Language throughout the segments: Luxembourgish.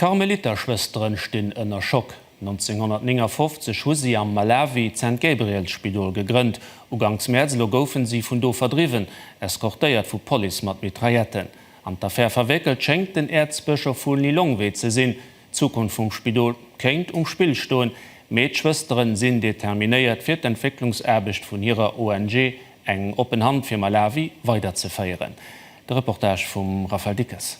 D'Karmeliterschwësteren stinn ënner Schock. 1959 hu si am Malawi d'Saint-Gabriels-Spidol gegrënnt. Uganks Mäerz elo goufen si vun do verdriwwen, eskortéiert vu Police mat Mitrailletten. An d'Affär verwéckelt schéngt den Äerzbëschof vu Lilongwe ze sinn. D'Zukunft vum Spidol kéint um Spill stoen. Mee d'Schwësteren sinn determinéiert fir d'Entwécklungsaarbecht vun hirer ONG Eng oppen Hand fir Malawi weiderzeféieren. De Reportage vum Raphaël Dickes.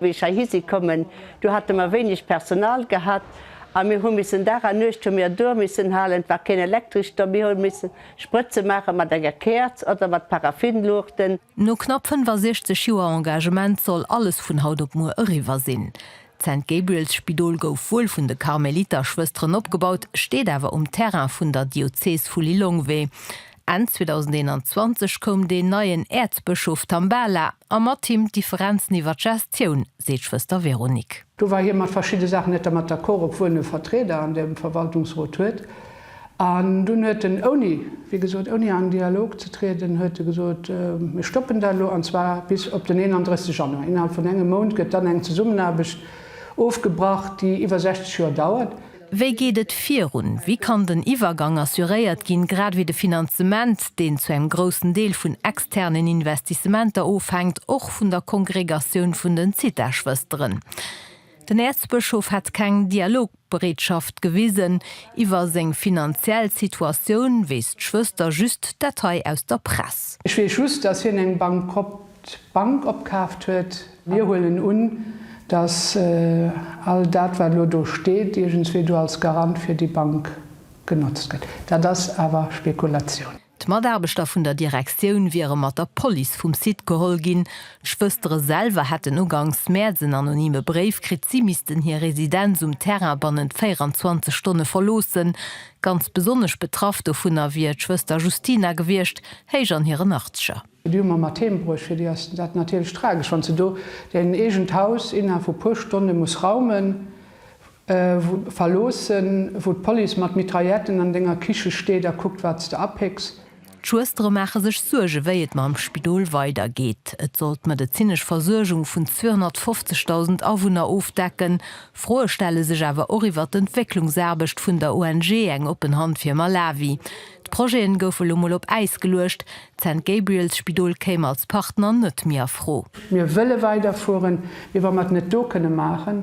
Wéi ech heihi si kommen, du hate mer wéineg Personal gehat a mir hu missen Dag a Nuecht hu mir duer missen halen, et war keen Elektresch do, mir hu missen Sprëtze maache mat enger Käerz oder mat Paraffinluuchten. No knapp 65 Joer Engagement soll alles vun haut op muer eriwwer sinn. D'St. Gabriel's Spidol gouf wuel vun de Karmeliterschwësteren opgebaut, steet awer um Terrain vun der Diözes vu Lilongwe. Enn 2021 koum deen neien Äerzbëschof Tambala a mat him d'Differenzen iwwer d'Gestioun, seet d'Schwëster Véronique. Do war hie mat verschidde Saachen net dermat d'accord, obwuel en e Vertrieder an dem Verwaltungsrot huet. An dunn huet en, ouni, wéi gesot, ouni an Dialog ze trieden, huet e gesot, Mir stoppen dat elo, an zwar bis op den 31 Januar. Innerhalb vun engem Mount gëtt dann eng Zesummenaarbecht ofgebrach, déi iwwer 60 Joer dauert. Wéi geet et virun? Wéi kann den Iwwergang assuréiert ginn, grad ewéi de Finanzement, deen zu engem groussen Deel vun externen Investissementer ofhänkt, och vun der Kongregatioun vun den Zithaschwësteren? Den Äerzbëschof hätt keng Dialogbereetschaft gewisen iwwer seng finanziell Situatioun, weess d'Schwëster just d'Detail aus der Press. Ech weess just, dass hien eng Bank. d'Bank opkaaft huet. Mir huelen un, dass all dat, wat elo do steet, iergendswéi do als Garant fir déi Bank genotzt gëtt. Dat ass awer Spekulatioun. D'Mataarbechter vun der Direktioun wiere mat der Police vum Site geholl ginn. D'Schwëstere selwer hätten ugangs Mäerz en anonyme Bréif kritt, si missten hir Residenz um Terrain bannent 24 Stonne verloossen. Ganz besonnesch betraff dovunner wier d'Schwëster Justina gewiescht, héich an hiren Achtscher. Déi hu mer mat heem bruecht. Fir déi ass dat natierlech tragesch, wann se do hiren eegent Haus innerhalb vu puer Stonne muss raumen, verloossen, wou d'Police mat Mitrailletten an denger Kiche steet a kuckt, wat s de apécks. D'Schwëstere maache sech Suerge wéi et mam Spidol weidergeet. Et soll d'medezinesch Versuergung vun 250.000 Awunner ofdecken. Froe stelle sech awer och iwwer d'Entwécklungsaarbecht vun der ONG Eng oppen Hand fir Malawi. D'Projeten goufe lo mol op Äis geluecht, D'St. Gabriel's Spidol kéim als Partner net méi a Fro. Mir wëlle weiderfueren, mee wa mer et net do kënne maachen,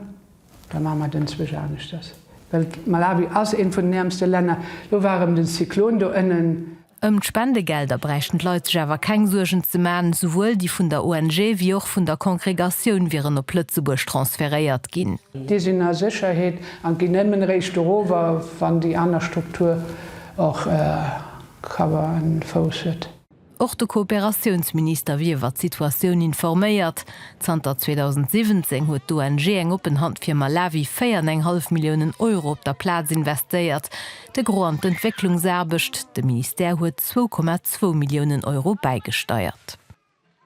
da maache mer denzwech aneschters. Well Malawi ass eent vun den äermste Länner. Lo war erëm den Zyklon do ënnen. Ëm d'Spendegelder bräichten d'Leit sech awer keng Suergen ze man, souwuel déi vun der ONG wéi och vun der Kongregatioun wieren op Lëtzebuerg transferéiert ginn. Déi sinn a Sécherheet a ginn nëmmen eréischt doruewer, wann déi aner Struktur och Cover an Fouss huet. Och de Kooperatiounsminister wier iwwer d'Situatioun informéiert. Zanter 2017 huet d'ONG Eng oppen Hand fir Malawi 4 an eng hallef Milliounen Euro op der Plaz investéiert, de Gros an d'Entwécklungsaarbecht. De Ministère huet zwou Komma zwou Milliounen Euro bäigesteiert.